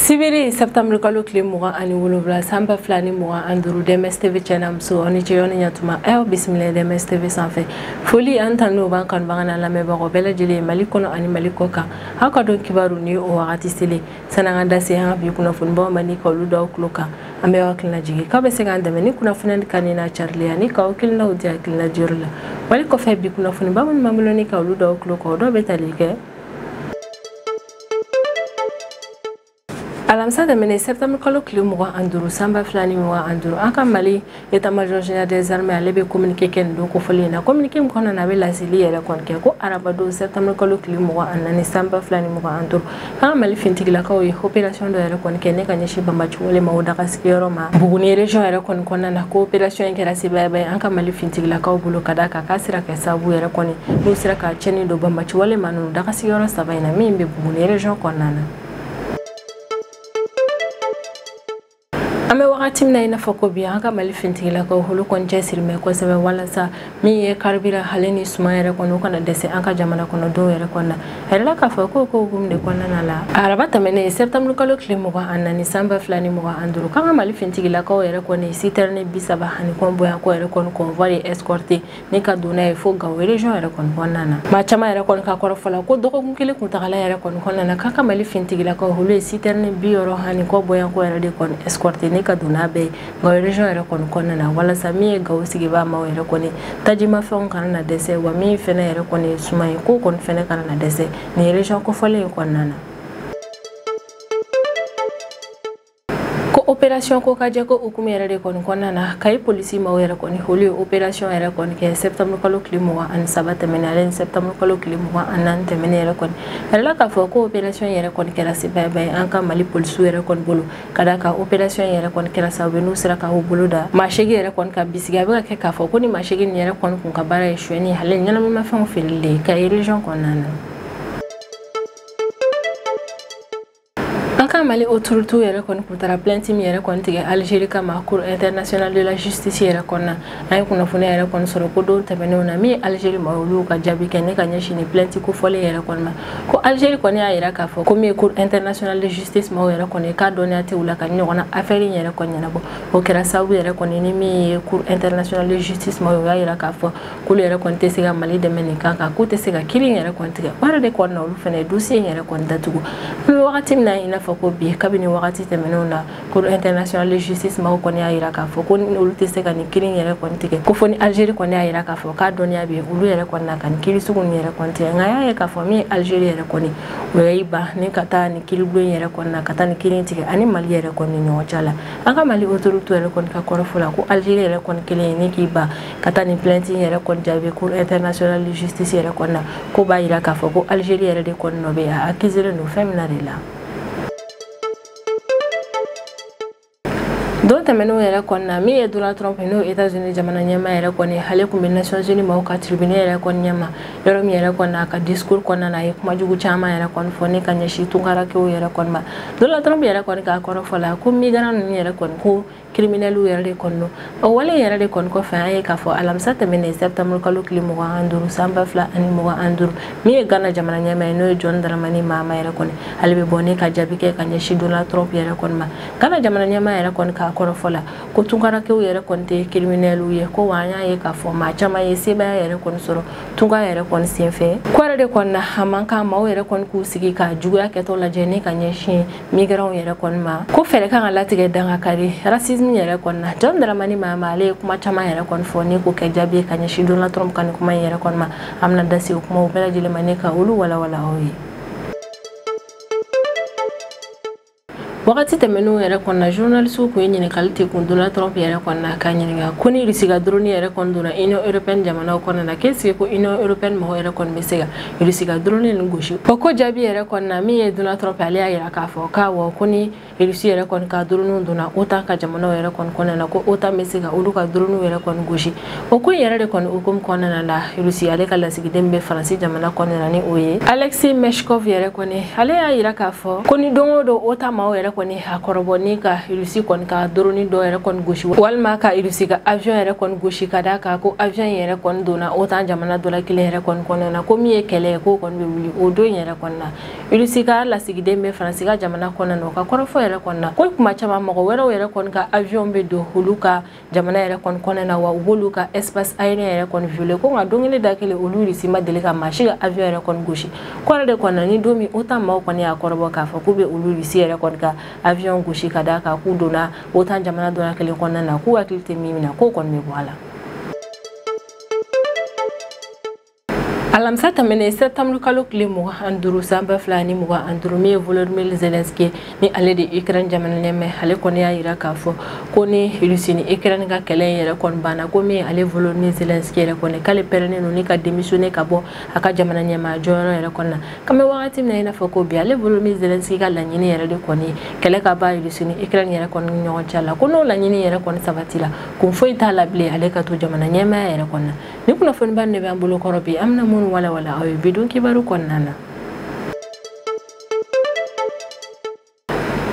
sibiri septembre kalo tile mugan ani wolonwula san ba fila ni mugan ani duuru dms tv cɛ n'a muso aw ni ce yɔrɔ ni ɲa tuma aw bisimila dms tv sanfɛ foli ani tanu b'an kanubaga n'an lamɛnbagaw bɛɛ lajɛlen ye mali kɔnɔ ani mali kɔ kan aw ka don kibaru ni o wagati selen san'an ka da se an ka bi kunnafonibaw ma ni ka olu da aw tulo kan an bɛ aw hakilina jigin k'aw bɛ se k'an dɛmɛ ni kunnafoni ka ni n'a carili ani ka aw hakilinaw di hakilina diyɔrɔ la wali kɔfɛ bi kunnafoniba minnu b'an bolo ni ka olu da aw tulo kan o dɔw bɛ tali kɛ alamisa tɛmɛnen septembre kalo tile mugan ani duuru sanba fila ni mugan ani duuru an ka mali état-major général des armées ale bɛ communiqué kɛ nin don kofɔlen in na communiqué min kɔnɔna na a bɛ laseli yɛrɛ kɔni kɛ ko arabadon septembre kalo tile mugan ani naani san ba fila ni mugan ani duuru k'an ka mali fintigilakaw ye opération dɔ yɛrɛ kɔni kɛ ni ka ɲɛsin banbaanci kulu maaw daga sigiyɔrɔ ma buguni région yɛrɛ kɔni kɔnɔna na ko opération in kɛra sebaayaba ye an ka mali fintigilakaw bolo ka d'a kan k'a sera kɛ sababu yɛrɛ kɔni n'u sera ka cɛnni don banbaanci kulu maa ninnu daga sigiyɔrɔ saba in na min bɛ buguni région kɔnɔna na an bɛ wagati min na i n'a fɔ ko bi an ka mali fintigilakaw olu kɔni cɛsirilen bɛ kosɛbɛ walasa min ye carburant ale ni suma yɛrɛ kɔni o kana dɛsɛ an ka jamana kɔnɔ dɔw yɛrɛ kɔnɔna a yirala k'a fɔ ko k'o hukumu de kɔnɔna la araba tɛmɛnen septembre kalo tile mugan ani naani san ba fila ni mugan ani duuru k'an ka mali fintigilakaw yɛrɛ kɔni citerne bi saba ani kɔ bɔɲɔgɔnko yɛrɛ kɔni convoi escorté ni ka don n'a ye fo gawo région yɛrɛ kɔni kɔnɔna na maa caman yɛrɛ kɔni ka kɔrɔfɔ la ko dɔgɔkun kelen kuntagala yɛrɛ kɔni kɔnɔna na k'an ka mali fintigilakaw olu ye citerne bi wɔɔrɔ ani kɔ bɔɲɔgɔnko yɛrɛ de kɔni escorté ni ka don n'a bɛɛ ye gawo région yɛrɛ kɔni kɔnɔna na walasa min ye gawo sigibaa maaw yɛrɛ kɔni tajimafɛnw kana na dɛsɛ wa min fɛnɛ yɛrɛ kɔni ye suma ye k'o kɔni fɛnɛ kana na dɛsɛ nin région kofɔlen in kɔnɔna na ko opération kokajɛ k'o hukumu yɛrɛ de kɔni kɔnɔna na kayi polisi maaw yɛrɛ kɔni olu ye opération yɛrɛ kɔni kɛ septembre kalo tile mugan ani saba tɛmɛnen ale ni septembre kalo tile mugan ani naani tɛmɛnen yɛrɛ kɔni a yirala k'a fɔ ko opération yɛrɛ kɔni kɛra sebaayaba ye an ka mali polisiw yɛrɛ kɔni bolo ka d'a kan opération yɛrɛ kɔni kɛra sababu ye n'u sera ka u bolo da maa seegin yɛrɛ kɔni kan bisigiya bɛ ka kɛ k'a fɔ ko nin maa seegin nin yɛrɛ kɔni kun ka baara ye suɲɛni ale ɲɛnamimafɛnw feereli de ye kayi région kɔnɔna na an ka mali autoritéw yɛrɛ kɔni kun taara plainte min yɛrɛ kɔni tigɛ algérie kama cour internationale de la justice yɛrɛ kɔnɔna an ye kunnafoniya yɛrɛ kɔni sɔrɔ ko don tɛmɛnenw na min ye algérie maaw olu ka jaabi kɛ ni ka ɲɛsin nin plainte kofɔlen yɛrɛ kɔni ma ko algérie kɔni y'a yira k'a fɔ ko min ye cour internationale de justice maaw yɛrɛ kɔni k'a dɔnniya tɛ u la ka ɲɔgɔnna affaire in yɛrɛ kɔni ɲɛnabɔ o kɛra sababu yɛrɛ kɔni ni min ye cour internationale de justice maaw ye o y'a yira k'a fɔ k'olu yɛrɛ kɔni tɛ se ka mali dɛmɛ nin kan kan k'u tɛ se ka kiri in yɛrɛ kɔni tigɛ o yɛrɛ de kɔni na olu fana ye dosiye in yɛrɛ kɔni datugu an bɛ wagati min na i n'a fɔ ko bi kabini wagati tɛmɛnenw na cour internationale de justice maaw kɔni y'a jira k'a fɔ ko olu tɛ se ka nin kiri in yɛrɛ kɔni tigɛ ko fo ni algérie kɔni y'a jira k'a fɔ k'a dɔnniya bɛ yen olu yɛrɛ kɔni na ka nin kiri sugu nin yɛrɛ kɔni tigɛ nka y'a ye k'a fɔ min ye algérie yɛrɛ kɔni o y'i ban ni ka taa nin kiribulon in yɛrɛ kɔni na ka taa nin kiri in tigɛ a ni mali yɛrɛ kɔni ni ɲɔgɔn cɛ la an ka mali autorité yɛrɛ kɔni ka kɔrɔfɔ la ko algérie yɛrɛ kɔni kɛlen ye ni k'i ban ka taa nin plainte in yɛrɛ kɔni jaabi cour internationale de justice yɛrɛ kɔni na k'o b'a jira k'a fɔ ko algérie yɛrɛ de kɔni nɔ bɛ a accuselen don fɛn min na de la don tɛmɛnenw yɛrɛ kɔni na min ye donald trump ye n'o ye états unis jamana ɲɛmaa yɛrɛ kɔni ale tun bɛ nations unies maaw ka tribune yɛrɛ kɔni ɲɛma yɔrɔ min yɛrɛ kɔni a ka discours kɔnɔna na a ye kuma jugu caman yɛrɛ kɔni fɔ ne ka ɲɛsin tunkarakew yɛrɛ kɔni ma donald trump yɛrɛ kɔni ka kɔrɔfɔ la ko migrant ninnu yɛrɛ kɔni ko kiriminɛliw yɛrɛ de kɔni don o wale yɛrɛ de kɔni kɔfɛ an ye k'a fɔ alamisa tɛmɛnen septembre kalo tile mugan ni duuru san ba fila ani mugan ni duuru min ye gana jamana ɲɛmaa ye n'o ye john dramani mahama yɛrɛ kɔni ale bɛ bɔ ne ka jaabi kɛ ka ɲɛsin donald trump yɛrɛ kɔni ma gana jamana ɲɛmaa yɛrɛ kɔni ka kɔrɔfɔ la ko tunkarakew yɛrɛ kɔni tɛ kiriminɛliw ye ko wa an y'a ye k'a fɔ maa caman ye sebaaya yɛrɛ kɔni sɔrɔ tunka yɛrɛ kɔni senfɛ k'o yɛrɛ de kɔni na a man kan maaw yɛrɛ kɔni k'u sigi ka juguya kɛtɔ lajɛ ni ka ɲɛsin migrants yɛrɛ kɔni ma ko fɛɛrɛ kan ka latigɛ dan ka kari racisme yɛrɛ kɔni na john dramani mahama ale ye kuma caman yɛrɛ kɔni fɔ ni k'o kɛ jaabi ye ka ɲɛsin donald trump ka nin kuma in yɛrɛ kɔni ma an bɛna da se o kumaw bɛɛ lajɛlen ma ne ka olu walawala aw ye wagati tɛmɛnenw yɛrɛ kɔni na journalisiw kun ye ɲininkali tɛ kun donald trump yɛrɛ kɔni na k'a ɲininka ko ni irisi ka doroni yɛrɛ kɔni donna union européenne jamanaw kɔnɔna k'est-ce que ko union européenne mɔgɔw yɛrɛ kɔni bɛ se ka irisi ka drone nin gosi o ko jaabi yɛrɛ kɔni na min ye donald trump ale y'a yira k'a fɔ k'awɔ ko ni irisi yɛrɛ kɔni ka dronew donna otan ka jamanaw yɛrɛ kɔni kɔnɔna na ko otan bɛ se ka olu ka dronew yɛrɛ kɔni gosi o ko in yɛrɛ de kɔni hukumu kɔnɔna la irisi ale ka lasigiden bɛ faransi jamana kɔnɔna na ni o ye alexey meshkov yɛrɛ kɔni ale y'a yira k'a fɔ ko ni don o don otan maaw yɛrɛ kɔni k'a kɔrɔbɔ ni ka irisi kɔni ka doroni dɔ yɛrɛ kɔni gosi walima ka irisi ka avion yɛrɛ kɔni gosi ka d'a kan ko avion in yɛrɛ kɔni donna otan jamana dɔ la kelen yɛrɛ kɔni kɔnɔna na ko min ye kɛlɛ ye k'o kɔni bɛ wuli o don in yɛrɛ kɔni na irisi ka lasigiden bɛ faransi ka jamana kɔnɔna na o ka kɔrɔfɔ yɛrɛ kɔni na ko kuma caman mɔgɔ wɛrɛw yɛrɛ kɔni ka avion bɛ don olu ka jamana yɛrɛ kɔni kɔnɔna na wa u b'olu ka espace aérien yɛrɛ kɔni viole ko nka don kelen da kelen olu irisi ma deli ka maa si ka avion yɛrɛ kɔni gosi k'o yɛrɛ de kɔni na ni don min otan maaw kɔni y'a kɔrɔbɔ k'a fɔ k'u bɛ olu irisi yɛrɛ kɔni ka avion gosi ka d'a kan k'u donna otan jamana dɔ la kelen kɔnɔna na k'u hakili tɛ min min na k'o kɔni bɛ bɔ a la alamisa tɛmɛnen septembre kalo tile mugan ani duuru san ba fila ni mugan ani duuru min ye volodimir zelenski ni ale de ukraine jamana ɲɛmaa ye ale kɔni y'a yira k'a fɔ ko ni rusi ni ukraine ka kɛlɛ in yɛrɛ kɔni banna ko min ale volodimir zelenski yɛrɛ kɔni k'ale pɛrɛnnen don ni ka démissionner ka bɔ a ka jamana ɲɛmaa jɔyɔrɔ yɛrɛ kɔnɔna k'an bɛ wagati min na i n'a fɔ ko bi ale volodimir zelenski ka laɲini yɛrɛ de kɔni ye kɛlɛ ka ban rusi ni ukraine yɛrɛ kɔni ni ɲɔgɔn cɛ la ko n'o laɲini yɛrɛ kɔni sabatila kun foyi t'a la bilen ale ka to jamana ɲɛmaya yɛrɛ kɔnɔna ni kunnafoniba de b'an bolo kɔrɔ bi an bɛna minnu walawala aw ye bi don kibaru kɔnɔna na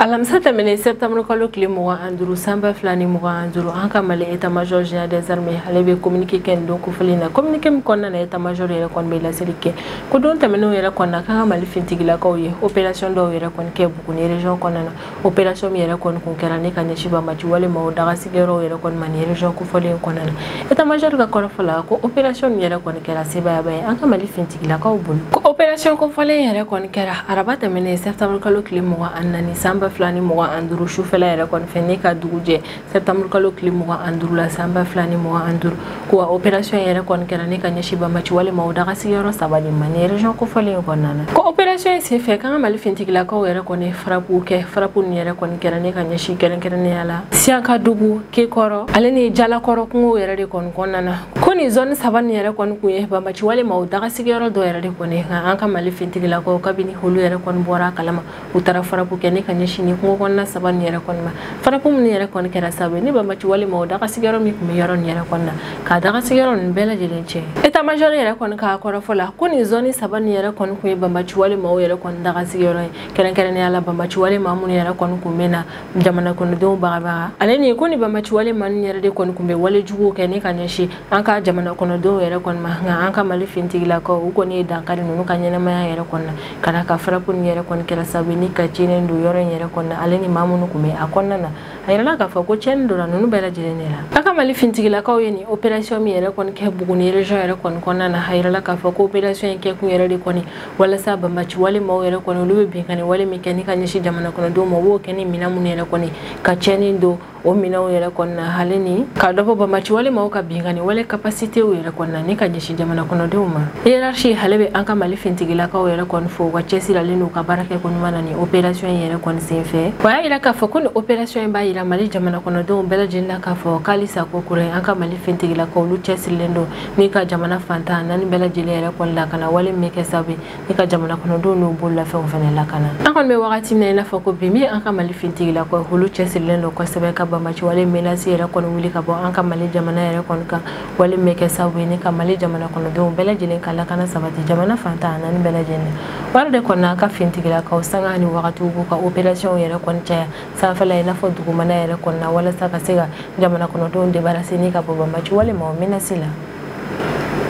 alamisa tɛmɛnen septembre kalo tile mugan an duuru san ba fila ni mugan an duuru an ka mali état major général des armées ale bɛ communiqué kɛ nin don kofɔlen na communiqué min kɔnɔna na état major yɛrɛ kɔni bɛ laseli kɛ ko don tɛmɛnenw yɛrɛ kɔnɔna k'an ka mali fintigilakaw ye opération dɔw yɛrɛ kɔni kɛ buguni région kɔnɔna na opération min yɛrɛ kɔni kun kɛra ne ka ɲɛsin banbaci wale maaw dagasigiyɔrɔw yɛrɛ kɔni ma nin région kofɔlen kɔnɔna na état major ka kɔrɔfɔ la ko opération min yɛrɛ kɔni kɛra sebayaba ye an ka mali fintigilakaw bolo ko opération kofɔlen yɛrɛ kɔni kɛra araba tɛmɛnen septembre kalo tile mugan ani naani san ba fila ni mugan ani duru sufɛla yɛrɛ kɔni fɛ ne ka dugu jɛ septembre kalo tile mugan an duru la san ba fila ni mugan an duru ko wa operasiyɔn yɛrɛ kɔni kɛra ne ka ɲɛsi banbaci wale maaw dagasigiyɔrɔ saba de ma nin rejɔn kofɔlen kɔnɔna na ko operasiyɔn in sen fɛ k'an ka mali fintigilakaw yɛrɛ kɔni frappe kɛ frappe nin yɛrɛ kɔni kɛra ne ka ɲɛsi kɛrɛnkɛrɛnnenya la siyankadugu kekɔrɔ ale ni jalakɔrɔ kungo yɛrɛ de kɔni kɔnɔna na ko nin zɔni saba nin yɛrɛ kɔni kun ye banbaci wale maaw dagasigiyɔrɔ dɔ yɛrɛ de kɔni k'an ka mali fintigilakaw kabini olu yɛrɛ kɔni bɔra a kalama u taara frappe kɛ ne ka ɲɛsin nin kungo kɔnɔna saba nin yɛrɛ kɔni ma frappe minnu yɛrɛ kɔni kɛra sababu ye ni banbaci wale maaw dagasigiyɔrɔ min tun bɛ yɔrɔ nin yɛrɛ kɔnɔna ka dagasigiyɔrɔ ninnu bɛɛ lajɛlen tiɲɛ état major yɛrɛ kɔni ka kɔrɔfɔ la ko nin zɔni saba nin yɛrɛ kɔni tun ye banbaci wale maaw yɛrɛ kɔni dagasigiyɔrɔ ye kɛrɛnkɛrɛnnenya la banbaci wale maa minnu yɛrɛ kɔni tun bɛ na jamana kɔnɔdenw bagabaga ale ni ko nin banbaci wale maa ninnu yɛrɛ de kɔni tun bɛ wale juguw kɛ ne ka ɲɛsin an ka jamana kɔnɔdenw yɛrɛ kɔni ma nka an ka mali fintigilakaw u kɔni ye dan kari ninnu ka ɲɛnamaya yɛrɛ kɔnɔna ka d'a kan frappe nin yɛrɛ kɔni kɛra sababu ni ka tiɲɛni don yɔrɔ in yɛrɛ kɔnɔna ale ni maa minnu tun bɛ a kɔnɔna na a yirala k'a fɔ ko tiɲɛni donna ninnu bɛɛ lajɛlen de la an ka mali fintigilakaw ye nin operasiyɔn min yɛrɛ kɔni kɛ buguni région yɛrɛ kɔni kɔnɔna na a yirala k'a fɔ ko operasiyɔn in kɛkun yɛrɛ de kɔni walasa banbaci wale maaw yɛrɛ kɔni olu bɛ binkanni wale min kɛ ni ka ɲɛsin jamanakɔnɔdenw ma u b'o kɛ ni minɛn minnu yɛrɛ kɔni ka tiɲɛni don o minɛnw yɛrɛ kɔnɔna ale ni ka dɔ bɔ banbaci wale maaw ka binkani wale capacité yɛrɛ kɔnɔna ni ka ɲɛsin jamana kɔnɔdenw ma hiérarchie ale bɛ an ka mali fintigilakaw yɛrɛ kɔni fo u ka cɛsiri ale n'u ka baarakɛ ko ɲuman na ni operasiɔn in yɛrɛ kɔni sen fɛ o y'a yira k'a fɔ ko ni operasiɔn in b'a yira mali jamana kɔnɔdenw bɛɛ lajɛlen na k'a fɔ k'ali sa kokura an ka mali fintigilakaw olu cɛsirilen don ni ka jamana fan tan ni naani bɛɛ lajɛlen yɛrɛ kɔni lakana wale min kɛ sababu i ka jamana kɔnɔdenw n'u bololafɛnw fana lakana an kɔni bɛ wagati min na i n'a fɔ ko bi min an ka mali fintigilakaw olu cɛsirilen don kosɛbɛ ka banbaci wale menasi yɛrɛ kɔni wuli ka bɔ an ka mali jamana yɛrɛ kɔni kan wale min bɛ kɛ sababu ye ni ka mali jamana kɔnɔdenw bɛɛ lajɛlen ka lakana sabati jamana fantan naani bɛɛ lajɛlen wari de kɔni an ka fintigilakaw sanga ni wagatiw b'u ka operasiyɔnw yɛrɛ kɔni caya sanfɛla i n'a fɔ dugumana yɛrɛ kɔni na walasa ka se ka jamana kɔnɔdenw debarase ni ka bɔ banbaci walima o menasi la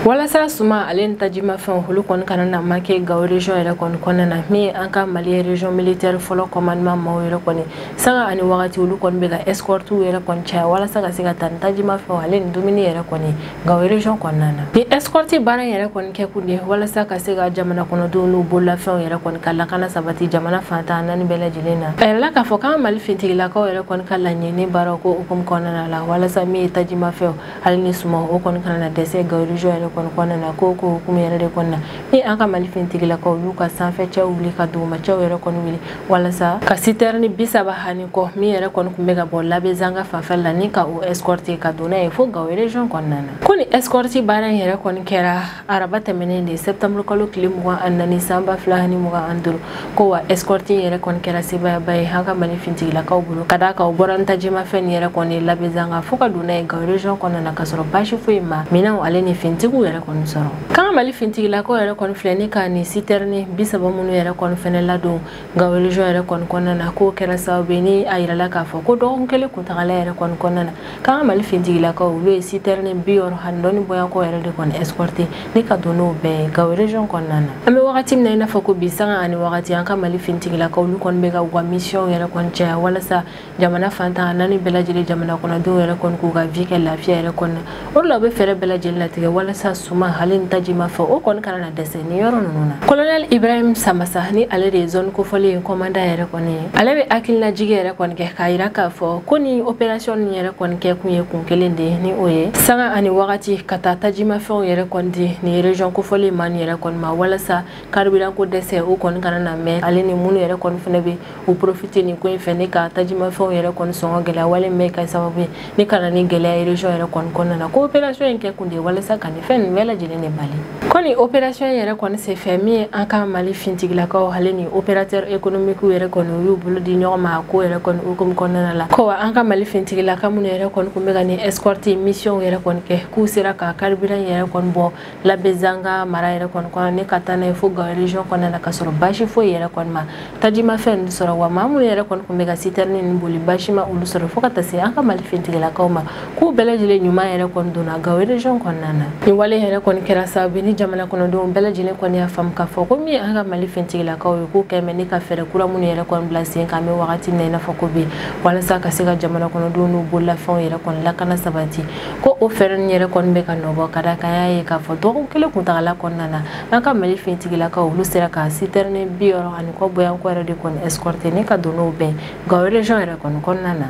walasa suma ale ni tajimafɛnw olu kɔni kana na manke gawo region yɛrɛ kɔni kɔnɔna na min ye an ka mali region militaire fɔlɔ commandement maaw yɛrɛ kɔni sanga ani wagati olu kɔni bɛ ka escortiw yɛrɛ kɔni caya walasa ka se ka taa ni tajimafɛnw ale ni dumuni yɛrɛ kɔni gawo region kɔnɔna na ni escorti baara yɛrɛ kɔni kɛ kun de walasa ka se ka jamana kɔnɔdenw n'u bololafɛnw yɛrɛ kɔni ka lakana sabati jamana fantan naani bɛɛ lajɛlen na a yirala k'a fɔ k'an mali fintigilakaw yɛrɛ kɔni ka laɲini baaraw ko hukumu kɔnɔna la walasa min ye tajimafɛnw hali ni suma o kɔni kana na dɛsɛ gawo region yɛrɛ kɔni kɔnɔna na k'o ko hukumu yɛrɛ de kɔnɔna ni an ka mali finitigilakaw y'u ka sanfɛ cɛw wuli ka duguma cɛw yɛrɛ kɔni wuli walasa ka sitɛrini bi saba ani kɔ min yɛrɛ kɔni kun bɛ ka bɔ labezanga fanfɛ la ni ka o escorte ka don n'a ye fo gawo region kɔnɔna na ko ni escorte baara in yɛrɛ kɔni kɛra araba tɛmɛnen de sɛptamurukalo tile mugan ani naani san ba fila ni mugan ani duuru ko wa ɛsikɔriti yɛrɛ kɔni kɛra sebayaba ye an ka mali fintigilakaw bolo ka d'a kan u bɔra ni tajimafɛn nin yɛrɛ kɔni labɛzanga fo ka don n'a ye gawo region kɔnɔna na k'a sɔrɔ baasi foyi ma minɛnw ale ni fintigiw yɛrɛ kɔni sɔrɔ k'an ka mali fintigilakaw yɛrɛ kɔni filɛ ni ka nin sitɛrini bisaba minnu yɛrɛ kɔni fɛnɛ ladon gawo region yɛrɛ kɔni kɔnɔna na k'o kɛra sababu ye ni a yirala k'a fɔ ko dɔgɔkun kelen kuntagala yɛrɛ kɔni kɔnɔna na k'an ka mali fintigilakaw olu ye sitɛrini bi wɔɔrɔ ani dɔɔni bɔyakɔ yɛrɛ de kɔni escorte ni ka don n'o bɛɛ ye gawo region kɔnɔna na an bɛ wagati min na i n'a fɔ ko bi sanga ani wagati an ka mali fintigilakaw olu kɔni bɛ ka u ka misiyɔn yɛrɛ kɔni caya walasa jamana fantan naani bɛɛ lajɛlen jamana kɔnɔdenw yɛrɛ kɔni k'u ka vi kɛ lafiya yɛrɛ kɔnɔna o la u bɛ fɛɛrɛ bɛɛ lajɛlen latigɛ walasa suma hali ni tajimafɛn o kɔni kana na dɛsɛ ni yɔrɔ ninnu na kolonɛl ibrahim samasa ni ale de ye zɔni kofɔlen in kɔmandan yɛrɛ kɔni ye ale bɛ hakilinajigi yɛrɛ kɔni kɛ k'a yira k'a fɔ ko ni operasiyɔn nin yɛrɛ kɔni kɛ kun ye kun kelen de ye ni o ye sanga ani wagati ka taa tajimafɛnw yɛrɛ kɔni di nin rejɔn kofɔlen ma nin yɛrɛ kɔni ma walasa carburant ko dɛsɛ o kɔni kana na mɛn ale ni minnu yɛrɛ kɔni fana bɛ u profite nin ko in fɛ ni ka tajimafɛnw yɛrɛ kɔni sɔngɔ gɛlɛya wale min kɛ sababu ye ni ka na ni gɛlɛya region yɛrɛ kɔni kɔnɔna na ko opération in kɛ kun de ye walasa ka nin fɛn nin bɛɛ lajɛlen de bali ko ni opération yɛrɛ kɔni senfɛ min ye an ka mali fintigilakaw ale ni opérateur économique yɛrɛ kɔni u y'u bolo di ɲɔgɔn ma a ko yɛrɛ kɔni hukumu kɔnɔna la ko wa an ka mali fintigilaka minnu yɛrɛ kɔni tun bɛ ka ni escorte mission yɛrɛ kɔni kɛ k'u sera ka carburant yɛrɛ kɔni bɔ labezanga mara yɛrɛ kɔni kɔnɔ ni ka taa n'a ye fo gawo region kɔnɔna na ka sɔrɔ basi foyi yɛrɛ kɔni ma tajimafɛn ninnu sɔrɔ wa maa minnu yɛrɛ kɔni tun bɛ ka sitɛrini ninnu boli basi ma olu sɔrɔ fo ka taa se an ka mali fintigilakaw ma k'u bɛɛ lajɛlen ɲuman yɛrɛ kɔni donna gawo region kɔnɔna na nin wale yɛrɛ kɔni kɛra sababu ni jamana kɔnɔdenw bɛɛ lajɛlen kɔni y'a faamu k'a fɔ ko min an ka mali fintigilakaw ye k'u kɛmɛ ni ka fɛɛrɛ kura minnu yɛrɛ kɔni bila sen kan bɛ wagati min na i n'a fɔ ko bi walasa ka se ka jamana kɔnɔdenw n'u bololafɛnw yɛrɛ kɔni lakana sabati ko o fɛɛrɛ ninnu yɛrɛ kɔni bɛ ka nɔbɔ ka da kan y'a ye k'a fɔ dɔgɔkun kelen kuntagala kɔnɔna na an ka mali finitigilakaw olu sera ka sitɛrini bi wɔɔrɔ ani kɔ boyanko yɛrɛ de kɔni escorté ni ka don n'u bɛɛ gawo region yɛrɛ kɔni kɔnɔna na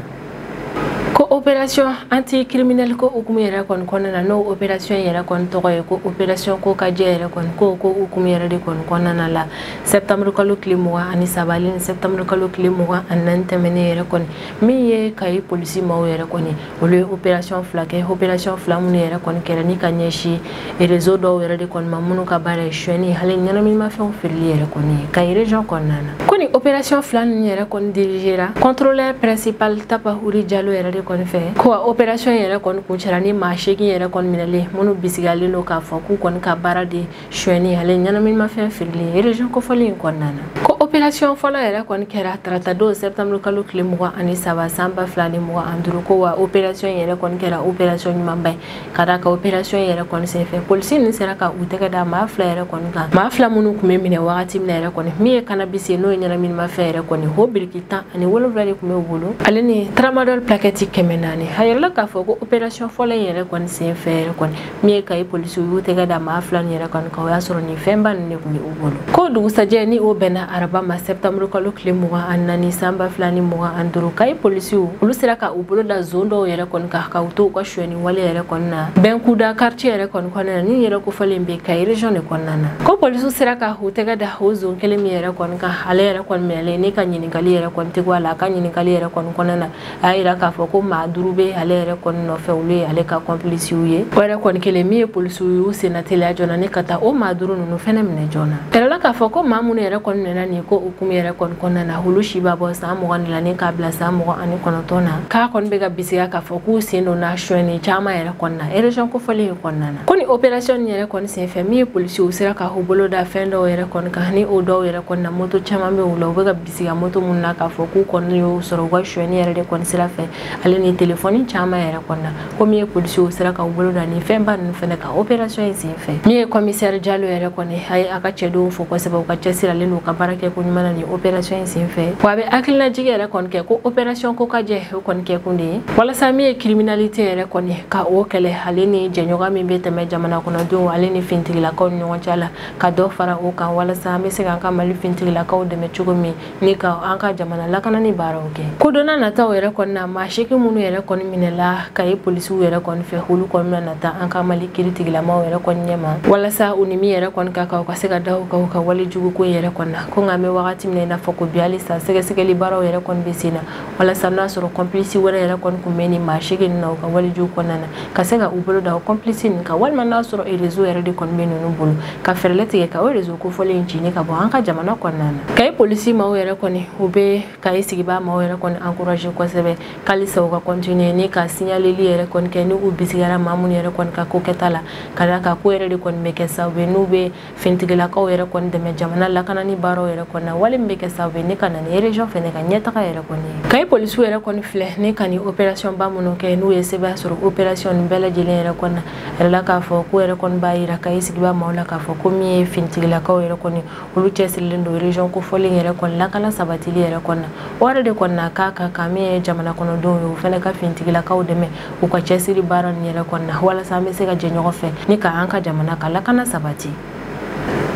ko opération anti criminel ko hukumu yɛrɛ kɔni kɔnɔna na n'o opération yɛrɛ kɔni tɔgɔ ye ko opération kokajɛ yɛrɛ kɔni ko ko hukumu yɛrɛ de kɔni kɔnɔna la septembre kalo tile mugan ani saba ale ni septembre kalo tile mugan ani naani tɛmɛnen yɛrɛ kɔni min ye kayi polisi maaw yɛrɛ kɔni olu ye opération fila kɛ opération fila minnu yɛrɛ kɔni kɛra ni ka ɲɛsin réseau dɔw yɛrɛ de kɔni ma minnu ka baara ye suyɛni hali ɲɛnaminimafɛnw feereli yɛrɛ kɔni ye kayi région kɔnɔna na ko nin opération fila ninnu yɛrɛ kɔni dirigera contrôleur principal tapa wuri jalo yɛrɛ de kɔni fɛ ko wa opération yɛrɛ kɔni kuncɛra ni maa seegin yɛrɛ kɔni minɛlen minnu bisigalen don k'a fɔ k'u kɔni ka baara de suyɛni hali ɲɛnaminimafɛn feereli erezɔn kofɔlen in kɔnɔna na ko operasiyɔn fɔlɔ yɛrɛ kɔni kɛra taratadon sɛptanburu kalo tile mugan ani saba san ba fila ni mugan ani duuru ko wa operasiyɔn yɛrɛ kɔni kɛra operasiyɔn ɲumanba ye ka da kan operasiyɔn yɛrɛ kɔni senfɛ polisi nin sera ka u tɛgɛ da maa fila yɛrɛ kɔni kan maa fila minnu tun bɛ minɛ wagati min na yɛrɛ kɔni min ye kanabisi ye n'o ye ɲɛnaminimafɛn yɛrɛ kɔni o biriki tan ani wolonwula de tun b'u bolo ale ni tramadɔl plakɛti kɛmɛ naani a yirala k'a fɔ ko operasiyɔn fɔlɔ in yɛrɛ kɔni senfɛ yɛrɛ kɔni min ye kayi polisiw y'u tɛgɛ da maa fila nin yɛrɛ kɔni kan o y'a sɔrɔ nin fɛnba ninnu de tun bɛ u bolo ko dugusajɛ ni o bɛnna araba ma sɛptanburu kalo tile mugan ani naani san ba fila ni mugan ani duuru kayi polisiw olu sera ka u bolo da zon dɔw yɛrɛ kɔni kan ka u to u ka suyɛni wale yɛrɛ kɔni na bɛnkuda kartiye yɛrɛ kɔni kɔnɔna na min yɛrɛ kofɔlen bɛ kayi region de kɔnɔna na ko polisiw sera ka u tɛgɛ da o zon kelen min yɛrɛ kɔni kan ale yɛrɛ kɔni minɛlen ni ka ɲininkali yɛrɛ kɔni tɛ bɔ a la a ka ɲininkali yɛrɛ kɔni kɔnɔna na a y'a yira k'a fɔ ko maa duuru bɛ ale yɛrɛ kɔni nɔfɛ olu ye ale ka kɔnpilisiw ye o yɛrɛ kɔni kɛlen min ye polisiw y'u senna teliya joona ni ka taa o maa duuru ninnu fɛnɛ minɛ joona yirala k'a fɔ ko maa minnu yɛrɛ kɔni minɛna nin ko hukumu yɛrɛ kɔni kɔnɔna na olu si b'a bɔ san mugan la ni k'a bila san mugan ani kɔnɔntɔn na k'a kɔni bɛ ka bisigiya k'a fɔ k'u sen donna suyɛni caman yɛrɛ kɔni na erezɔn kofɔlen in kɔnɔna na ko ni operasiyɔn nin yɛrɛ kɔni senfɛ min ye polisiw sera ka u bolo da fɛn dɔw yɛrɛ kɔni kan ni o dɔw yɛrɛ kɔni na moto caman bɛ u la u bɛ ka siga moto minnu na k'a fɔ k'u kɔni y'o sɔrɔ u ka suɲɛni yɛrɛ de kɔni sira fɛ ale ni telefɔni caman yɛrɛ kɔni na ko min ye polisiw sera k'u bolo da nin fɛnba ninnu fɛnɛ kan operasiyɔn in sen fɛ min ye kɔmisɛri jalo yɛrɛ kɔni a ye a ka cɛdenw fo kosɛbɛ u ka cɛsiri ale ni u ka baara kɛ ko ɲuman na nin operasiyɔn in sen fɛ wa a bɛ hakilinajigi yɛrɛ kɔni kɛ ko operasiyɔn kokajɛ o kɔni kɛkun de ye walasa min ye kiriminalite yɛrɛ kɔni ka o kɛlɛ ale ni jɛɲɔgɔn min bɛ tɛmɛ jamana kɔnɔdenw ale ni fintigilakaw ni ɲɔgɔn cɛ la ka dɔ fara o kan walasa an bɛ se k'an ka mali fintigilakaw dɛmɛ cogo min ni ka an ka jamana lakanani baaraw kɛ ko don nataw yɛrɛ kɔni na maa seegin minnu yɛrɛ kɔni minɛla kaye polisiw yɛrɛ kɔni fɛ olu kɔni bɛna nata an ka mali kiritigilamaw yɛrɛ kɔni ɲɛma walasa u ni min yɛrɛ kɔni ka kan u ka se ka da u kan u ka wale juguko yɛrɛ kɔni na ko nka an bɛ wagati min na i n'a fɔ ko bi halisa sɛgɛsɛgɛli baaraw yɛrɛ kɔni bɛ sen na walasa n'a sɔrɔ kɔnplisi wɛrɛ yɛrɛ kɔni tun bɛ nin maa seegin na u ka walejuw kɔnɔna na ka se ka u bolo da o kɔnplisi nin kan walima n'a sɔrɔ erezo yɛrɛ de kɔni bɛ ninnu bolo ka fɛɛrɛ tigɛ ka o erezo kofɔlen in ci ni ka bɔ an ka jamana kɔnɔna na kaye polisi maaw yɛrɛ kɔni u bɛ kaye sigibaa maaw yɛrɛ kɔni encourager kosɛbɛ k'alisa u ka kɔntiniye ni ka signaleli yɛrɛ kɔni kɛ ni u bisigiyara maa minnu yɛrɛ kɔni ka ko kɛta la ka d'a kan k'o yɛrɛ de kɔni bɛ kɛ sababu ye n'u bɛ fintigilakaw yɛrɛ kɔni dɛmɛ jamana lakanani baaraw yɛrɛ kɔni na wale min bɛ kɛ sababu ye ni ka na ni region fɛnɛ ka ɲɛtaga yɛrɛ kɔni ye kayi polisiw yɛrɛ kɔni filɛ ni ka nin operation ba minnu kɛ n'u ye sebaaya sɔrɔ operation nin bɛɛ lajɛlen yɛrɛ kɔni na a yɛrɛ la k'a fɔ k'o yɛrɛ kɔni b'a yira kayi sigibaa maaw la k'a fɔ ko min ye finitigilakaw yɛrɛ kɔni olu cɛsirilen don region kofɔlen yɛrɛ kɔni lakana sabatili yɛrɛ kɔni na o yɛrɛ de kɔni na k'a ka kan min ye jamana kɔnɔdenw ye o fɛnɛ ka finitigilakaw dɛmɛ u ka cɛsiri baara nin yɛrɛ kɔnɔna walasa an bɛ se ka jɛ ɲɔgɔn fɛ ni ka an ka jamana ka lakana sabati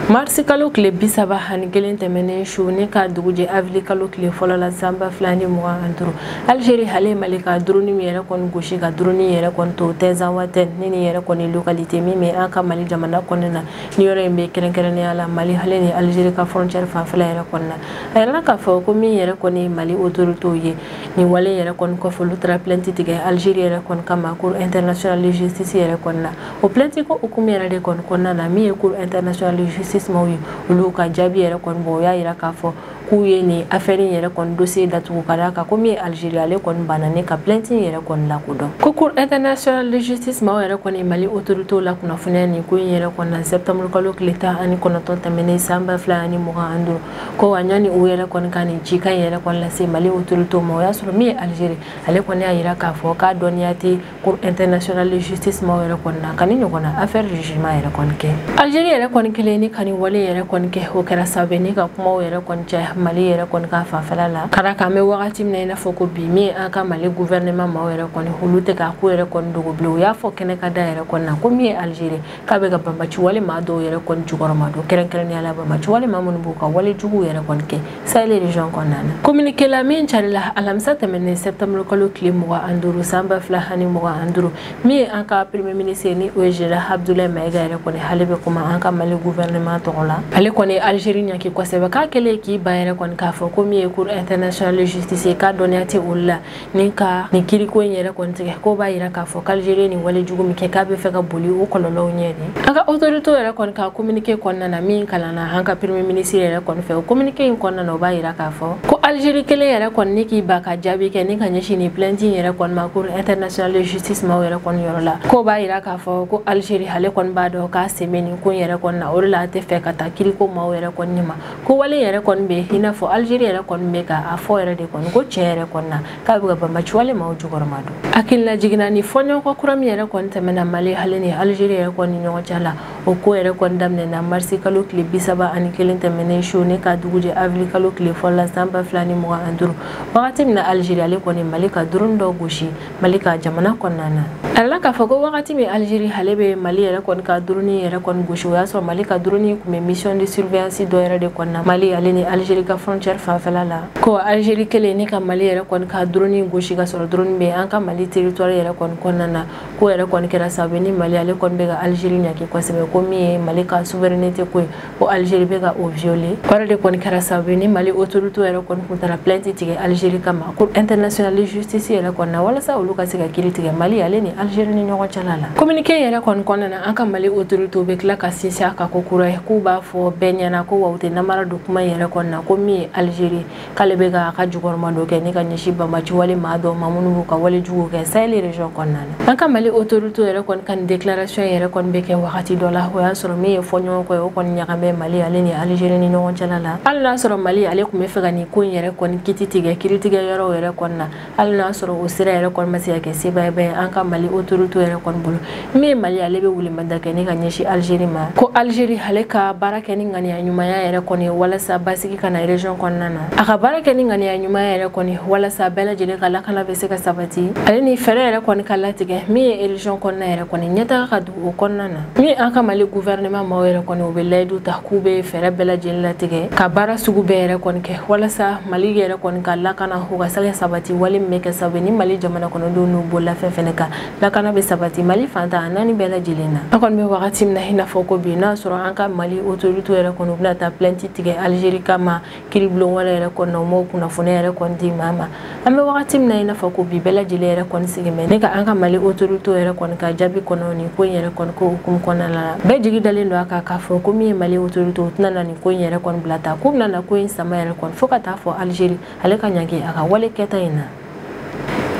marisi kalo tile bi saba ani kelen tɛmɛnen su ni ka dugujɛ avili kalo tile fɔlɔ la sanba fila ni mugan ani duuru algeri ale mali ka dɔrɔni min yɛrɛ kɔni gosi ka dɔrɔni yɛrɛ kɔni to tɛnzawatɛn ni nin yɛrɛ kɔni lokalite min bɛ an ka mali jamana kɔnɔna na ni yɔrɔ in bɛ kɛrɛnkɛrɛnnenya la mali ale ni algeri ka fɔrɔncɛri fanfɛla yɛrɛ kɔnɔna a yɛrɛ la k'a fɔ ko min yɛrɛ kɔni mali otoritew ye nin wale yɛrɛ kɔni kɔfɛ olu taara plainte tigɛ Algérie yɛrɛ kɔni kama cour internationale de justice yɛrɛ kɔni na o plainte ko hukumu yɛrɛ de kɔni kɔnɔna na min ye cour internationale de justice maaw ye olu ka jaabi yɛrɛ kɔni bɔ o y'a yira k'a fɔ k'u ye nin affaire in yɛrɛ kɔni dossier datugu ka d'a kan ko min ye Algérie ale kɔni banna ni ka plainte in yɛrɛ kɔni lakodɔn ko cour internationale de justice maaw yɛrɛ kɔni Mali autorités lakunnafoniya nin ko in yɛrɛ kɔnɔna septembre kalo tile tan ani kɔnɔntɔn tɛmɛnen san ba fila ani mugan ani duuru ko wa yanni u yɛrɛ kɔni ka nin cikan in yɛrɛ kɔni lase mali autorité ma o y'a sɔrɔ min ye algérie ale kɔni y'a yira k'a fɔ k'a dɔnniya tɛ cour internationale de justice maw yɛrɛ kɔni na ka nin ɲɔgɔnna affaire de jugement yɛrɛ kɔni kɛ algérie yɛrɛ kɔni kɛlen ni ka nin wale yɛrɛ kɔni kɛ o kɛra sababu ni ka kumaw yɛrɛ kɔni caya mali yɛrɛ kɔni ka fanfɛla la ka d'a kan an bɛ wagati min na i n'a fɔ ko bi min an ka mali gouvernement maw yɛrɛ kɔni olu tɛ ka ko yɛrɛ kɔni dogo bilen u y'a fɔ kɛnɛkanda yɛrɛ kɔni na ko min ye algérie k'a bɛ ka banbaci wale maa dɔw yɛrɛ kɔni jukɔrɔma don kɛrɛnkɛrɛnnenya la banbaci wale maa minnu b'u ka wale juguw yɛrɛ kɔni kɛ sahel région kɔnɔna na communiqué la min carila alamisa tɛmɛnen septembre kalo tile mugan ani duuru san ba fila ani mugan ani duuru min ye an ka premier ministre ni o ye général abdoulaye maïga yɛrɛ kɔni ale bɛ kuma an ka mali gouvernement tɔgɔ la ale kɔni algérie ɲaki kosɛbɛ k'a kɛlen k'i ban yɛrɛ kɔni k'a fɔ ko min ye cour internationale de justice ye k'a dɔnniya tɛ olu la ni ka nin kiriko in yɛrɛ kɔni tigɛ k'o b'a yira k'a fɔ k'algérie nin wale jugu min kɛ k'a bɛ fɛ ka boli o kɔlɔlɔw ɲɛ de an ka autoritéw yɛrɛ kɔni ka communiqué kɔnɔna na min kalanna an ka premier ministre yɛrɛ kɔni fɛ o communiqué in kɔnɔna na o b'a yira k'a fɔ ko algérie kɛlen yɛrɛ kɔni ni k'i ban ka jaabi kɛ ni ka ɲɛsin nin plainte in yɛrɛ kɔni ma cour internationale de justice maaw yɛrɛ kɔni yɔrɔ la k'o b'a yira k'a fɔ ko algérie ale kɔni b'a dɔn k'a sen bɛ nin ko in yɛrɛ kɔni na o de la a tɛ fɛ ka taa kiriko maaw yɛrɛ kɔni ma ko wale yɛrɛ kɔni bɛ i n'a fɔ algérie yɛrɛ kɔni bɛ ka a fɔ yɛrɛ de kɔni ko tiɲɛ yɛrɛ kɔni na k'a bɛ ka banbaci wale maaw jukɔrɔma don hakililajigin na nin fɔɲɔgɔnkɔ kura min yɛrɛ kɔni tɛmɛna mali ale ni algérie yɛrɛ kɔni ɲɔgɔn cɛ la o ko yɛrɛ kɔni daminɛna marisi kalo tile bi saba ani kelen tɛmɛnen su ni ka dugujɛ avril kalo tile fɔlɔ la san ba fila ni mugan ani duuru wagati min na algérie ale kɔni mali ka drone dɔ gosi mali ka jamana kɔnɔna na a la k'a fɔ ko wagati min algérie ale bɛ mali yɛrɛ kɔni ka drone yɛrɛ kɔni gosi o y'a sɔrɔ mali ka drone kun bɛ mission de surveillance dɔ yɛrɛ de kɔnɔna mali ale ni algérie ka frontière fanfɛla la ko algérie kɛlen ni ka mali yɛrɛ kɔni ka drone gosi ka sɔrɔ drone bɛ an ka mali territoire yɛrɛ kɔni kɔnɔna na ko yɛrɛ kɔni kɛra sababu ni mali ale kɔni bɛ ka algérie ɲaki kosɛbɛ ko min ye mali ka souveraineté ko ye ko Algérie bɛ ka o violer o yɛrɛ de kɔni kɛra sababu ni Mali autoritéw yɛrɛ kɔni kun taara plainte tigɛ Algérie kama Cour internationale de justice yɛrɛ kɔni na walasa olu ka se ka kiri tigɛ Mali ale ni Algérie ni ɲɔgɔn cɛla la communiqué yɛrɛ kɔni kɔnɔna na an ka Mali autoritéw bɛ tila ka sinsin a kan ko kura ye k'u b'a fɔ bɛɛ ɲɛna ko wa u tɛ namara don kuma yɛrɛ kɔni na ko min ye Algérie k'ale bɛ ka a ka jukɔrɔma don kɛ ni ka ɲɛsin banbaci wale maa dɔw ma minnu b'u ka wale jugu kɛ saheli région kɔnɔna na an ka mali autoritéw yɛrɛ kɔni ka nin déclaration yɛrɛ kɔni bɛ kɛ wagati dɔ la o y'a sɔrɔ min ye fɔɲɔgɔnkɔ ye o kɔni ɲaga bɛ mali ale ni algérie ni ɲɔgɔn cɛla la hali n'a sɔrɔ mali ale tun bɛ fɛ ka nin ko in yɛrɛ kɔni kiti tigɛ kiritigɛ yɔrɔw yɛrɛ kɔni na hali n'a sɔrɔ o sira yɛrɛ kɔni ma se ka kɛ sebaayaba ye an ka mali autoritéw yɛrɛ kɔni bolo min ye mali ale bɛ welemada kɛ ni ka ɲɛsin algérie ma ko algérie ale ka baara kɛ ni ŋaniya ɲumanya yɛrɛ kɔni walasa basigi ka na région kɔnɔna na a ka baara kɛ ni ŋaniya ɲumanya yɛrɛ kɔni walasa bɛɛ lajɛlen ka lakana bɛ se ka sabati ale ni fɛɛrɛ yɛrɛ kɔni ka latigɛ min ye région kɔnɔna yɛrɛ kɔni ɲɛtaga ka o kɔnɔna na min an ka mali gouvernement maaw yɛrɛ kɔni u bɛ layidu ta k'u bɛ fɛɛrɛ bɛɛ lajɛlen latigɛ ka baara sugu bɛɛ yɛrɛ kɔni kɛ walasa mali yɛrɛ kɔni ka lakana o ka se ka sabati wale min bɛ kɛ sababu ni mali jamana kɔnɔdenw n'u bololafɛn fɛnɛ ka lakana bɛ sabati mali fan tan ni naani bɛɛ lajɛlen na an kɔni bɛ wagati min na i n'a fɔ ko bi n'a sɔrɔ an ka mali autoritéw yɛrɛ kɔni u bɛna taa plainte tigɛ algérie kama kiribulon wɛrɛ yɛrɛ kɔnɔna u m'o kunnafoni yɛrɛ kɔni di maa ma an bɛ wagati min na i n'a fɔ ko bi bɛɛ lajɛlen yɛrɛ kɔni sigilen bɛ ne ka an ka mali autorité yɛrɛ kɔni ka jaabi kɔnɔ nin ko in yɛrɛ kɔni ko hukumu kɔnɔna la bɛɛ jigi dalen don a kan k'a fɔ ko min ye mali autorité o tɛna na nin ko in yɛrɛ kɔni bila tan ko bɛna na ko in sama yɛrɛ kɔni fo ka taa fɔ algérie ale ka ɲangi a ka wale kɛta in na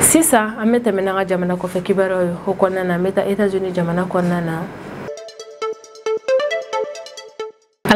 sisan an bɛ tɛmɛ n'an ka jamana kɔfɛ kibaruyaw ye o kɔnɔna na an bɛ taa états unis jamana kɔnɔna na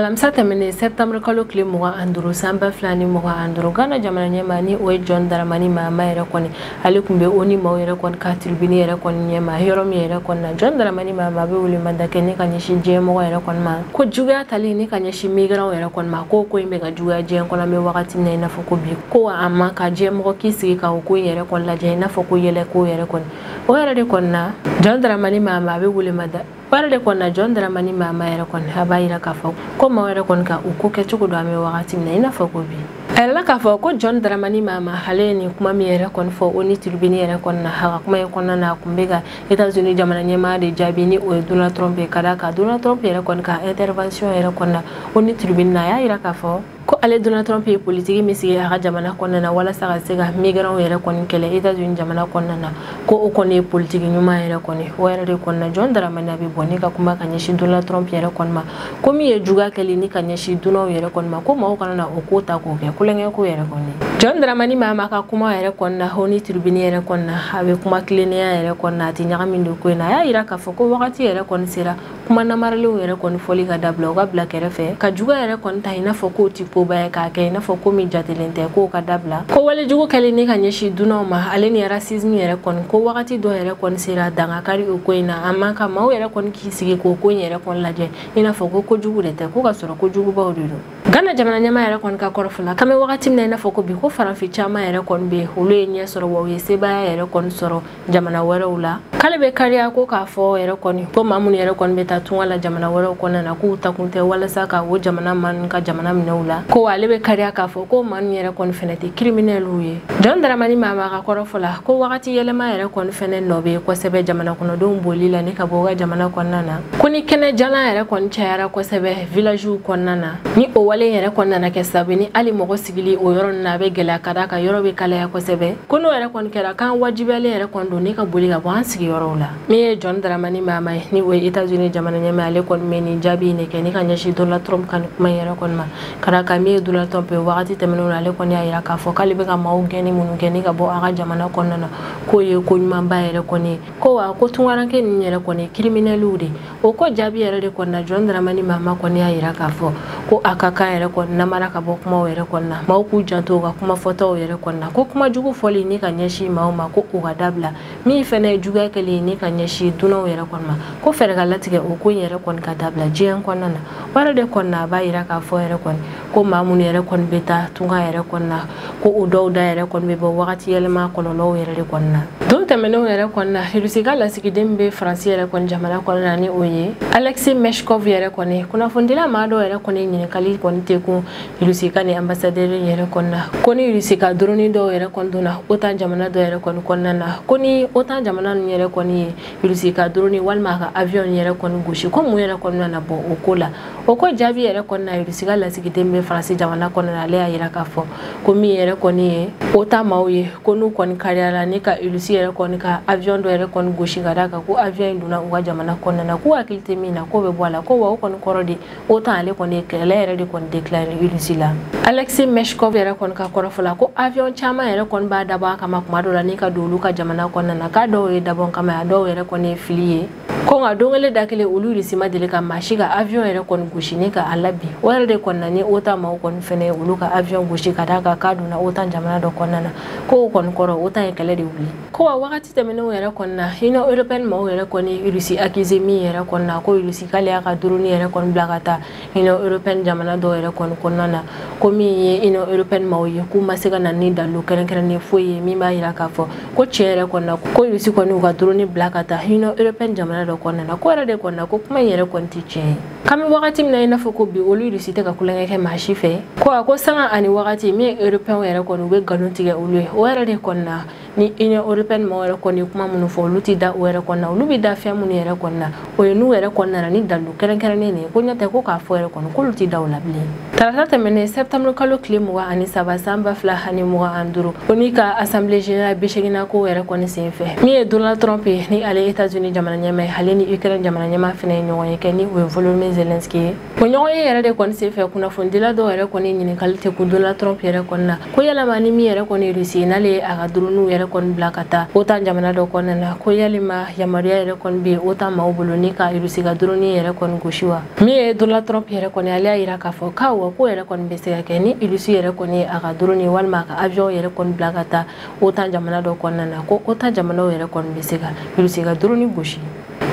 alamisa tɛmɛnen septembre kalo tile mugan ani duuru san ba fila ni mugan ani duuru ghana jamana ɲɛmaa ni o ye john dramani mahama yɛrɛ kɔni ale tun bɛ onu maaw yɛrɛ kɔni ka tribune yɛrɛ kɔni ɲɛma yɔrɔ min yɛrɛ kɔni na john dramani mahama bɛ welemada kɛ ni ka ɲɛsin diɲɛmɔgɔ yɛrɛ kɔni ma ko juguya tali ni ka ɲɛsin migrantw yɛrɛ kɔni ma ko ko in bɛ ka juguya diɲɛ kɔnɔ an bɛ wagati min na i n'a fɔ ko bi ko wa a man kan diɲɛmɔgɔ k'i sigi ka o ko in yɛrɛ kɔni lajɛ i n'a fɔ ko yɛlɛ ko yɛrɛ kɔni o yɛrɛ de kɔni na john dramani mahama a bɛ welemada o yɛrɛ de kɔni na john dramani mahama yɛrɛ kɔni a b'a yira k'a fɔ ko maaw yɛrɛ kɔni ka u ko kɛcogo dɔn an bɛ wagati min na i n'a fɔ ko bi a yirala k'a fɔ ko john dramani mahama ale ye nin kuma min yɛrɛ kɔni fɔ onu tribune yɛrɛ kɔni na a ka kuma in kɔnɔna na a tun bɛ ka etats-unis jamana ɲɛmaa de jaabi ni o ye donald trump ye ka d'a kan donald trump yɛrɛ kɔni ka intervention yɛrɛ kɔni na onu tribune na a y'a yira k'a fɔ ko ale donald trump ye politiki min sigi a ka jamana kɔnɔna na walasa ka se ka migrantw yɛrɛ kɔni kɛlɛ etats-unis jamana kɔnɔna na ko o kɔni ye politiki ɲuman yɛrɛ kɔni o yɛrɛ de kɔnɔna john dramani a bɛ bɔ ni ka kuma ka ɲɛsin donald trump yɛrɛ kɔni ma ko min ye juguya kɛli ni ka ɲɛsin dunanw yɛrɛ kɔni ma ko mɔgɔw kana na o ko ta k'o kɛ tulonkɛ ko yɛrɛ kɔni john dramani mahama ka kuma yɛrɛ kɔnɔna onu tribune yɛrɛ kɔnɔna a bɛ kuma tilennenya yɛrɛ kɔnɔna a tɛ ɲagami don ko in na a y'a jira k'a fɔ ko wagati yɛrɛ kɔni sera kuma namarelenw yɛrɛ kɔni fɔli ka dabila o ka bila kɛrɛfɛ ka juguya yɛrɛ kɔni ta i n'a fɔ k'o tɛ koba ye k'a kɛ i n'a fɔ ko min jatelen tɛ k'o ka dabila ko walejugu kɛli ni ka ɲɛsin dunanw ma ale ni racisme yɛrɛ kɔni ko wagati dɔ yɛrɛ kɔni sera dan ka kari o ko in na a man kan maaw yɛrɛ kɔni k'i sigi k'o ko in yɛrɛ kɔni lajɛ i n'a fɔ ko kojugu de tɛ ko ka sɔrɔ kojugubaw de don ghana jamana ɲɛmaa yɛrɛ kɔni ka kɔrɔfɔ la k'an bɛ wagati min na i n'a fɔ ko bi ko farafin caman yɛrɛ kɔni bɛ olu ye ɲɛ sɔrɔ wa u ye sebaya yɛrɛ kɔni sɔrɔ jamana wɛrɛw la k'ale bɛ kariya ko k'a fɔ yɛrɛ kɔni ko maa minnu yɛrɛ kɔni bɛ taa tunga la jamana wɛrɛw kɔnɔna na k'u taakun tɛ walasa ka o jamana maaw ka jamana minɛ u la ko ale bɛ kariya k'a fɔ ko maa ninnu yɛrɛ kɔni fɛnɛ tɛ criminelw ye john dramani mahama ka kɔrɔfɔ la ko wagati yɛlɛma yɛrɛ kɔni fɛnɛ nɔ bɛ kosɛbɛ jamana kɔnɔdenw boli la ni ka bɔ u ka jamana kɔnɔna na ko ni kɛnɛ jalan yɛrɛ kɔni cayara kosɛbɛ villagew kɔnɔna na ni o wale yɛrɛ kɔni nana kɛ sababu ni hali mɔgɔ sigili o yɔrɔ ninnu na a bɛ gɛlɛya ka d'a kan yɔrɔ bɛ kalaya kosɛbɛ ko n'o yɛrɛ kɔni kɛra k'an wajibiyalen yɛrɛ kɔni don ni ka boli ka bɔ an sigiyɔrɔw la min ye john dramani mahama ye ni o ye états-unis jamana ɲɛmaa ale kɔni bɛ nin jaabi in de kɛ ni ka ɲɛsin donald trump ka nin kuma in yɛrɛ kɔni ma ka d'a kan min ye donald trump ye wagati tɛmɛnenw na ale kɔni y'a jira k'a fɔ k'ale bɛ ka maaw gɛnni minnu kɛ ni ka bɔ a ka jamana kɔnɔna na k'o ye ko ɲumanba yɛrɛ kɔni ye ko wa ko tunkaranke ninnu yɛrɛ kɔni ye criminelw de o ko jaabi yɛrɛ de kɔni na john dramani mahama kɔni y'a yira k'a fɔ ko a ka kan yɛrɛ kɔni namara ka bɔ kumaw yɛrɛ kɔni na maaw k'u janto u ka kuma fɔtaw yɛrɛ kɔni na ko kuma jugu fɔli ni ka ɲɛsin maaw ma ko o ka dabila min fɛnɛ ye juguya kɛli ni ka ɲɛsin dunanw yɛrɛ kɔni ma ko fɛɛrɛ ka latigɛ o ko in yɛrɛ kɔni ka dabila diɲɛ kɔnɔna na o yɛrɛ de kɔni na a b'a yira k'a fɔ yɛrɛ kɔni ko maa minnu yɛrɛ kɔni bɛ taa tunga yɛrɛ kɔni na ko o dɔw da yɛrɛ kɔni bɛ bɔ wagati yɛlɛma kɔlɔlɔw yɛrɛ de kɔni na don tɛmɛnenw yɛrɛ kɔni na irisi ka lasigiden min bɛ faransi yɛrɛ kɔni jamana kɔni na ni o ye alexei meshkov yɛrɛ kɔni kunnafonidila maa dɔw yɛrɛ kɔni ɲininkali kɔni tɛ kun irisi ka ni ambassadeur yɛrɛ kɔni na ko ni irisi ka drone dɔw yɛrɛ kɔni donna otan jamana dɔ yɛrɛ kɔni kɔnɔna na ko ni otan jamana ninnu yɛrɛ kɔni ye irisi ka drone walima a ka avion yɛrɛ kɔni gosi ko mun yɛrɛ kɔni nana bɔ o ko la o ko jaabi yɛrɛ kɔni na irisi ka lasigiden bɛ faransi jamana kɔnɔ ale y'a yira k'a fɔ ko min yɛrɛ kɔni ye otan maaw ye ko n'u kɔni kariyara ni ka irisi yɛrɛ kɔni ka avion dɔ yɛrɛ kɔni gosi ka d'a kan ko avion in donna u ka jamana kɔnɔna na k'u hakili tɛ min na k'o bɛ bɔ a la ko wa o kɔni kɔrɔ de otan ale kɔni ye kɛlɛ yɛrɛ de kɔni déclaré irisi la alexei meshkov yɛrɛ kɔni ka kɔrɔfɔ la ko avion caman yɛrɛ kɔni b'a dabɔ a kama kuma dɔ la ni ka don olu ka jamana kɔnɔna na k'a dɔw ye dabɔ kama a dɔw yɛrɛ kɔni ye fili ye ko nka don kelen da kelen olu irisi ma deli ka maa si ka avion yɛrɛ kɔni gosi ni ka a labin o yɛrɛ de kɔni na ni otan maaw kɔni fɛnɛ ye olu ka avion gosi ka d'a kan k'a donna otan jamana dɔ kɔnɔna na ko o kɔni kɔrɔ otan ye kɛlɛ de wuli ko wa wagati tɛmɛnenw yɛrɛ kɔni na union européenne maaw yɛrɛ kɔni ye irisi accusé min yɛrɛ kɔni na ko irisi k'ale y'a ka drone yɛrɛ kɔni bila ka taa union européenne jamana dɔw yɛrɛ kɔni kɔnɔna na ko min ye ino europɛn maw ye k'u ma se ka na ni dalilu kɛrɛnkɛrɛnnen foyi ye min b'a yira k'a fɔ ko tiɲɛ yɛrɛ kɔni na ko russie kɔni u ka drone bila ka taa union européenne jamana dɔ kɔnɔna na ko yɛrɛ de kɔni na ko kuma in yɛrɛ kɔni tɛ tiɲɛ ye k'an bɛ wagati min na i n'a fɔ ko bi olu russie tɛ ka kulonkɛ kɛ maa si fɛ ko wa ko sanga ani wagati min ye européenw yɛrɛ kɔni u bɛ nkalon tigɛ olu ye o yɛrɛ de kɔni na ni union européenne maaw yɛrɛ kɔni ye kuma minnu fɔ olu tɛ da o yɛrɛ kɔni na olu bɛ da fɛn minnu yɛrɛ kɔni na o ye n'u yɛrɛ kɔni nana ni dalu kɛrɛnkɛrɛnnen de ye ko n'o tɛ ko k'a fɔ yɛrɛ kɔni k'olu tɛ da o la bilen tarata tɛmɛnen septembre kalo tile mugan ani saba san ba fila ani mugan ani duuru onu ka assemblée générale bi seginnan ko yɛrɛ kɔni sen fɛ min ye donald trump ye ni ale ye états unis jamana ɲɛmaa ye ale ni ukraine jamana ɲɛmaa fɛnɛ ye ɲɔgɔn ye kɛ ni o ye volodymyr zelensky ye o ɲɔgɔn ye yɛrɛ de kɔni senfɛ kunnafonidila dɔw yɛrɛ kɔni ɲininkali tɛ kun donald trump yɛrɛ kɔni na ko yalama ni min yɛrɛ kɔni russie n'ale y'a ka dronew yɛrɛ kɔni bila ka taa otan jamana dɔ kɔnɔna na ko yalima yamaruya yɛrɛ kɔni bɛ otan maaw bolo ni ka russie ka drone yɛrɛ kɔni gosi wa min ye donald trump yɛrɛ kɔni ale y'a yira k'a fɔ k'awɔ ko yɛrɛ kɔni bɛ se ka kɛ ni russie yɛrɛ kɔni y'a ka drone walima a ka avion yɛrɛ kɔni bila ka taa otan jamana dɔ kɔnɔna na ko otan jamanaw yɛrɛ kɔni bɛ se ka russie ka drone gosi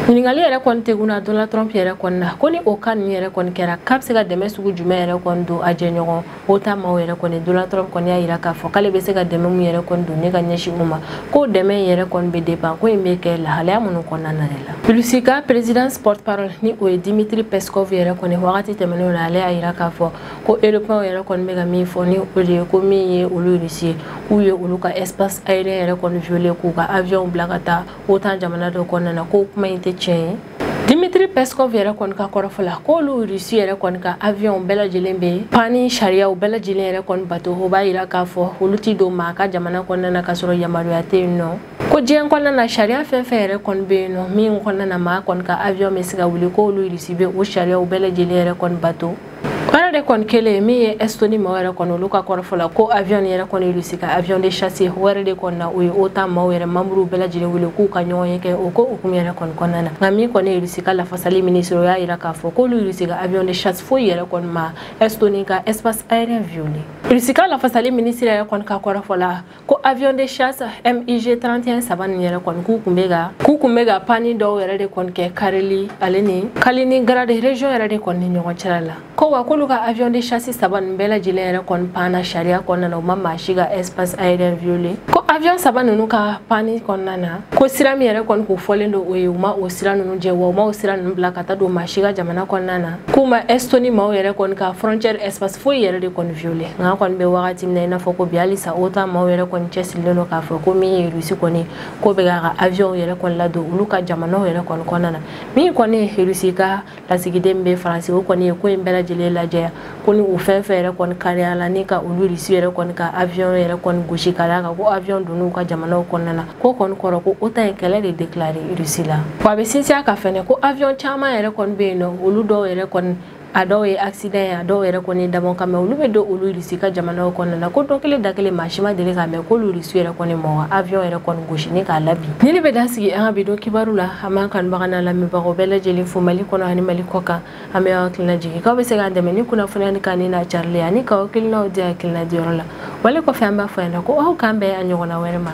ɲininkali yɛrɛ kɔni tegunna donald trump yɛrɛ kɔni na ko ni o cas ninnu yɛrɛ kɔni kɛra k'a bɛ se ka dɛmɛ sugu jumɛn yɛrɛ kɔni don a jɛɲɔgɔn otan maaw yɛrɛ kɔni donald trump kɔni y'a jira k'a fɔ k'ale bɛ se ka dɛmɛ min yɛrɛ kɔni don ni ka ɲɛsin u ma ko dɛmɛ in yɛrɛ kɔni bɛ depan ko in bɛ kɛ lahalaya minnu kɔnɔna na de la rusi ka présidence porte-parole ni o ye dimitri peskov yɛrɛ kɔni wagati tɛmɛnenw na ale y'a jira k'a fɔ ko europɛnw yɛrɛ kɔni bɛ ka min fɔ ni o de ye ko min ye olu rusi ye k'u ye olu ka espace aérien yɛrɛ kɔni violer k'u ka avion bila ka taa otan jamana dɔ kɔnɔna na ko kuma in tɛ tiɲɛ ye dimitri peskov yɛrɛ kɔni ka kɔrɔfɔ la k'olu rusi yɛrɛ kɔni ka aviyɔnw bɛɛ lajɛlen bɛ pani sariyaw bɛɛ lajɛlen yɛrɛ kɔni bato o b'a yira k'a fɔ olu tɛ don maa ka jamana kɔnɔna na k'a sɔrɔ yamaruya tɛ yen nɔ ko diɲɛ kɔnɔna na sariya fɛn fɛn yɛrɛ kɔni bɛ yen nɔ min kɔnɔna na maa kɔni ka aviyɔn bɛ se ka wuli k'olu rusi bɛ o sariyaw bɛɛ lajɛlen yɛrɛ kɔni bato baara de kɔni kelen min ye estoni maaw yɛrɛ kɔni olu ka kɔrɔfɔ la ko avion yɛrɛ kɔni irisi ka avion de chasse wɛrɛ de kɔni na o ye otan maaw yɛrɛ manburu bɛɛ lajɛlen wele k'u ka ɲɔgɔnye kɛ o ko hukumu yɛrɛ kɔni kɔnɔna na nka min kɔni ye irisi ka lafasali minisiri o y'a jira k'a fɔ k'olu irisi ka avion de chasse foyi yɛrɛ kɔni ma estoni ka espace aérien violer irisi ka lafasali minisiri yɛrɛ kɔni ka kɔrɔfɔ la ko avion de chasse MIG 31 saba nin yɛrɛ kɔni k'u kun bɛ ka panni dɔw yɛrɛ de kɔni kɛ Kareli ale ni Kaliningrad région yɛrɛ de kɔni ni ɲɔgɔn cɛla la ko wa k'olu ka avion de chasse saba nin bɛɛ lajɛlen yɛrɛ kɔni panna sariya kɔnɔna na u ma maa si ka espace aérien violer ko avion saba ninnu ka panni kɔnɔna na ko sira min yɛrɛ kɔni kun fɔlen don u ye u ma o sira ninnu jɛ wa u ma o sira ninnu bila ka taa don maa si ka jamana kɔnɔna na k'u ma estoni maaw yɛrɛ kɔni ka frontière espace foyi yɛrɛ de kɔni violer nk'an kɔni bɛ wagati min na i n'a fɔ ko bi halisa otan maaw yɛrɛ kɔni cɛsirilen don k'a fɔ ko min ye rusi kɔni k'o bɛ k'a ka avion yɛrɛ kɔni ladon olu ka jamanaw yɛrɛ kɔni kɔnɔna na min kɔni ye rusi ka lasigiden bɛ faransi o kɔni ye ko in bɛɛ lajɛlen lajɛya ko ni u fɛn fɛn yɛrɛ kɔni kariya la ni ka olu rusi yɛrɛ kɔni ka avion yɛrɛ kɔni gosi ka d'a kan ko avion donn'u ka jamanaw kɔnɔna na k'o kɔni kɔrɔ ko otan ye kɛlɛ de déclaré Russie la wa a bɛ sinsin a kan fɛnɛ ko avion caman yɛrɛ kɔni bɛ yen nɔ olu dɔw yɛrɛ kɔni a dɔw ye accident ye a dɔw yɛrɛ kɔni ye dabɔ kama olu bɛ don olu Russie ka jamanaw kɔnɔna na ko don kelen da kelen maa si ma deli k'a mɛn k'olu Russie yɛrɛ kɔni maa ka avion yɛrɛ kɔni gosi ni k'a labin nin de bɛ dan sigi an ka bi don kibaru la an b'an kanubaga n'an lamɛnbagaw bɛɛ lajɛlen fo mali kɔnɔ ani mali kɔkan an b'aw hakili lajigin k'aw bɛ se k'an dɛmɛ ni kunnafoniya nin kanuni n'a carili ye ani k'aw hakilinaw di hakilina diyɔrɔ la wale kɔfɛ an b'a fɔ yan nɔ ko aw k'an bɛn a ɲɔgɔnna wɛrɛ ma